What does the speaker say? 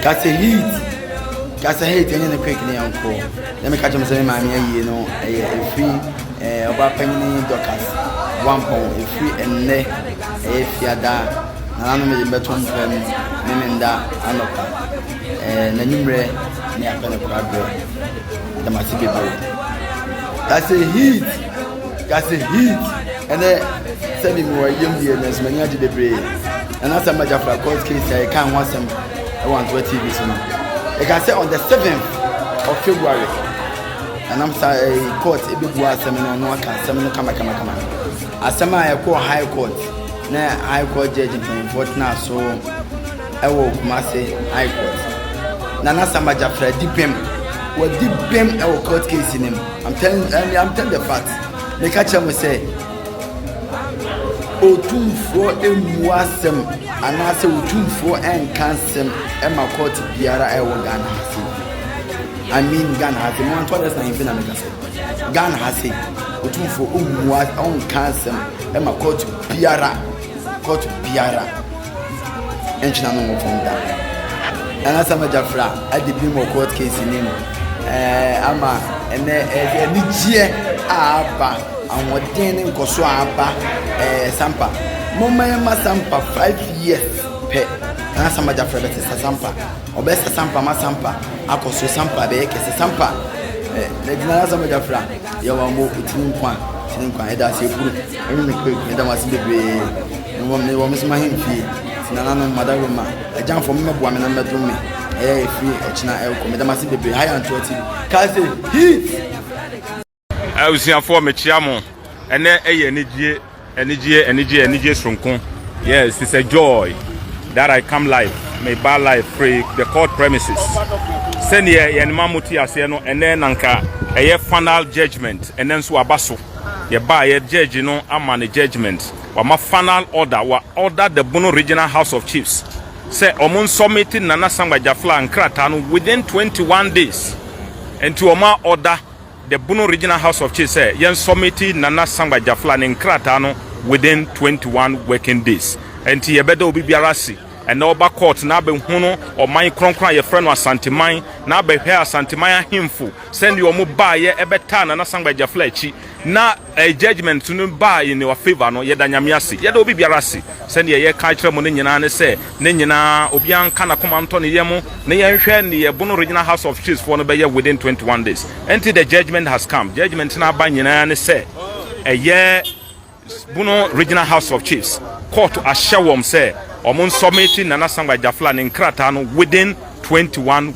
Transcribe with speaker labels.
Speaker 1: Kasa heat. Kasa heat ɛnyɛ ne quick ne yɛn kɔ. Na mi ka kyerɛ mo sɛ mi maame ayie no ɛyɛ efiri ɛɛ ɔba panyin dɔkas wampɔn efiri ɛnɛ ɛyɛ fiada na nanu mi de mbɛto mpɛ mu ne mi nda anɔpa ɛɛ na numrɛ ne apɛ ne kora brɛ dɛm ase bebree. Kasa heat. Gase heat ɛnɛ sɛ mi wɔ yam deɛ nanso m'ani agye bebree na n'asɛm ma gyafra court case a yɛka ho asɛm ɛwɔ antoa tv so no ɛka sɛ on the seventh of february nanam sa ɛɛ eh, court ebebu asɛm no ɔno aka asɛm no kamakamakama asɛm a ɛkɔ high court na high court judge mpanyinfoɔ tena so ɛwɔ kumase high court na n'asɛm ma gyafra di bɛm wɔdi bɛm ɛwɔ court case no mu. I'm telling, I mean, I'm telling the fact. Meka kyerɛ mo sɛ otumfoɔ mmu asɛm anaasɛ otumfoɔ nka asɛm ma kɔɔte biara ɛwɔ Ghana ha se I mean Ghana ha se mo antɔ dɛ san na meka sɛ Ghana ha se otumfoɔ mmu ɔnka asɛm ma kɔɔte biara kɔɔte biara Ɛnkyena no nwo fam da. Anaasɛ ama gya fra adi bem wɔ court case no mu. Eh, ama ɛnɛ eh, anigyeɛ a aba, ahoɔden ne nkɔso a aba. Eh, Sampa. Momma yɛma Sampa five years pɛ. Anaasɛ ama gya fra bɛsesa Sampa. Ɔbɛsesa Sampa ma Sampa akɔ so. Sampa bɛyɛ kɛse. Sampa. Eh, na gyina anaasɛ ama gya fra. Yɛwɔ mo, ɛtini nkwa, ɛtini nkwa. Ɛda ase ɛkuru. Ɛmi me kpɛ, ɛda mo ase bebree. Mewɔ me wɔ me som ahemfie, ti nananom mada Roma. Agyamfoɔ mo mɛboa me na mɛdom me, ɛyɛ efiri ɛkyina ɛrekɔ. Meda mo ase bebree, ha yɛ Antoa TV. Kaa se, Heat!
Speaker 2: Abusuafoɔ mekyea mo ɛnɛ ɛyɛ anigyeɛ anigyeɛ anigyeɛ anigyeɛ soronko yes it's a joy that I come live me ba live free the court premises sɛdeɛ yɛn ma mo ti aseɛ no ɛnɛ nanka ɛyɛ final judgement ɛnɛ nso aba so yɛba yɛ judge no ama ne judgement wama final order wa order the Bono Regional House of Chiefs sɛ wɔn nsɔmiti Nana Sangba Jafla nkrataa no within 21 days. Nti wɔn a order the Bono Regional House of Chiefs sɛ yɛn nsɔmiti Nana Sangba Jafla ne nkrataa no within 21 working days. Nti yɛbɛda obi biara ase ɛnɛ ɔba court na abɛhunu ɔman kronkron a yɛfrɛ no Asanteman na abɛhwɛ Asanteman ahemfo sɛdeɛ wɔn baayɛ ɛbɛtaa Nana Sangba Jafla akyi na Ɛɛ judgement no baa in our favour no, yɛda Nyame ase. Yɛda obi biara ase. Sɛdeɛ yɛka akyerɛ mo no nyinaa ne sɛ, ne nyinaa, obiara nka n'akoma ntɔ ne yam na yɛnhwɛ deɛ Bono Regional House of Chiefs foɔ no bɛyɛ within twenty one days. Ɛnti the judgement has come. Judgement no aba nyinaa ne sɛ, ɛyɛ Bono Regional House of Chiefs kɔɔto ahyɛ wɔn sɛ wɔn nsɔmiti Nana Sankwa Gyafla ne nkrataa no within twenty one.